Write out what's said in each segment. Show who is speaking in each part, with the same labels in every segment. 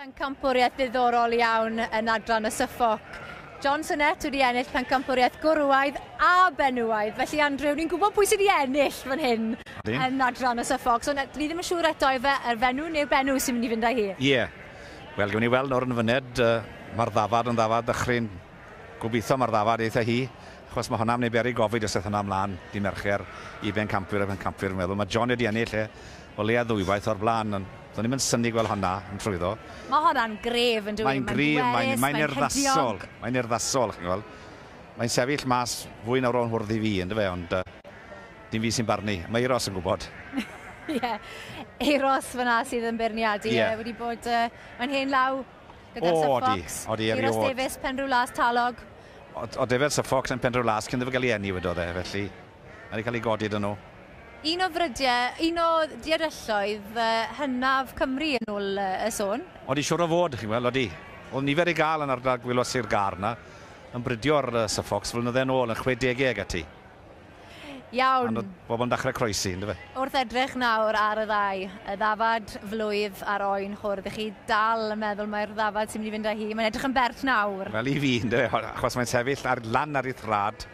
Speaker 1: Pencampwriaeth ddiddorol iawn yn adran y Suffolk. John Sinnett wedi ennill pencampwriaeth gwrywaidd a benywaidd. Felly, Andrew, ni'n gwybod pwy sydd wedi ennill fan hyn Dyn. yn adran y Suffolk. So, ni ddim yn siŵr eto efe yr fenw neu'r benw sy'n mynd i fynd â hi. Ie. Yeah. Wel,
Speaker 2: gwn i weld nawr yn y fyned, uh, mae'r ddafad yn ddafad dychryn. Gobeithio mae'r ddafad eitha hi, achos mae hwnna'n mynd i beri gofid os eith hwnna ymlaen dydd Mercher i bencampwyr a phencampwyr fi'n meddwl. Mae John wedi ennill e o leia ddwywaith o'r blaen, ond do'n i'm yn synnu gweld honna yn trwyddo. Mae honna'n
Speaker 1: gref yn dyw e? Mae'n gref, mae'n mae'n
Speaker 2: urddasol, mae'n urddasol chi'n gweld. Mae'n sefyll mas fwy na ro'n hwrdd i fi yndyw e, ond dim fi sy'n barnu, mae Euros yn gwybod.
Speaker 1: Ie, Euros fanna sydd yn beirniadu e wedi bod yn hen law. gyda'r Sir Fox, Euros Davies, Penrhyw Las, Talog. O defed
Speaker 2: Sir Fox yn Penrhyw Las cyn iddo gael ei enni wedodd e, felly mae wedi cael ei godi dyn nhw. Un o frydiau,
Speaker 1: un o diarelloedd hynaf Cymru yn ôl y sôn. Odi, siwr o fod, chi'n
Speaker 2: gweld, odi. Oedd nifer ei gael yn ardal gwylod Sir Gâr yna, yn bridio'r Sir Fox flynydde yn ôl, yn chwe degau ag ati.
Speaker 1: Iawn. Ond bobl yn dachrau
Speaker 2: croesi, yn dyfe? Wrth edrych nawr
Speaker 1: ar y ddau, y ddafad flwydd a'r oen chwr, ydych chi dal yn meddwl mai'r ddafad sy'n mynd i fynd â hi? Mae'n edrych yn bert nawr. Wel, i fi, yn dyfe, achos
Speaker 2: mae'n sefyll ar, lan ar ei thrad.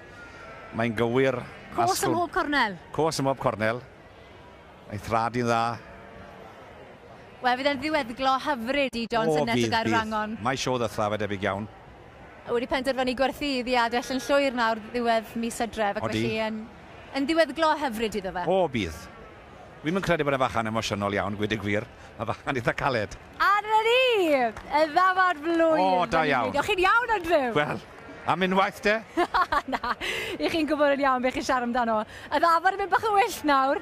Speaker 2: Mae'n gywir. Cos ym mhob
Speaker 1: cornel. Cos ym mhob cornel.
Speaker 2: Ei thrad i'n dda.
Speaker 1: Wel, fydd e'n ddiweddglo hyfryd i John Sinnes y Gaerwrangon. Mae sio ddethaf, a
Speaker 2: debyg iawn. wedi
Speaker 1: penderfynu gwerthu iddi adell yn llwyr nawr ddiwedd mis Hydref ac felly yn yn ddiweddglo hyfryd iddo fe. O, bydd.
Speaker 2: Wi'm yn credu bod e'n fachan emosiynol iawn, gweud y gwir. Mae'n fachan eitha caled. A dyna ni!
Speaker 1: Y ddafad flwydd! O, da iawn. O'ch chi'n
Speaker 2: iawn, Andrew?
Speaker 1: Wel, am
Speaker 2: unwaith de? Na,
Speaker 1: 'ych chi'n gwybod yn iawn beth chi'n siarad amdano. Y ddafad yn mynd bach yn wyllt nawr.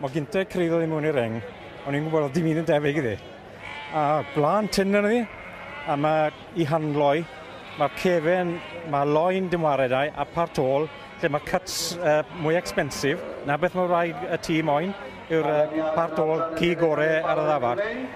Speaker 3: Mae gynta creiddodd i mewn i'r reng, o'n i'n gwybod oedd dim un yn debyg iddi. A blaen tyn yn iddi, a mae i handloi, mae cefen, mae loen dim wared ai, a part ôl, lle mae cuts uh, mwy expensive, na beth mae rhaid y tîm moyn, yw'r uh, part ôl ci gore ar y ddafad.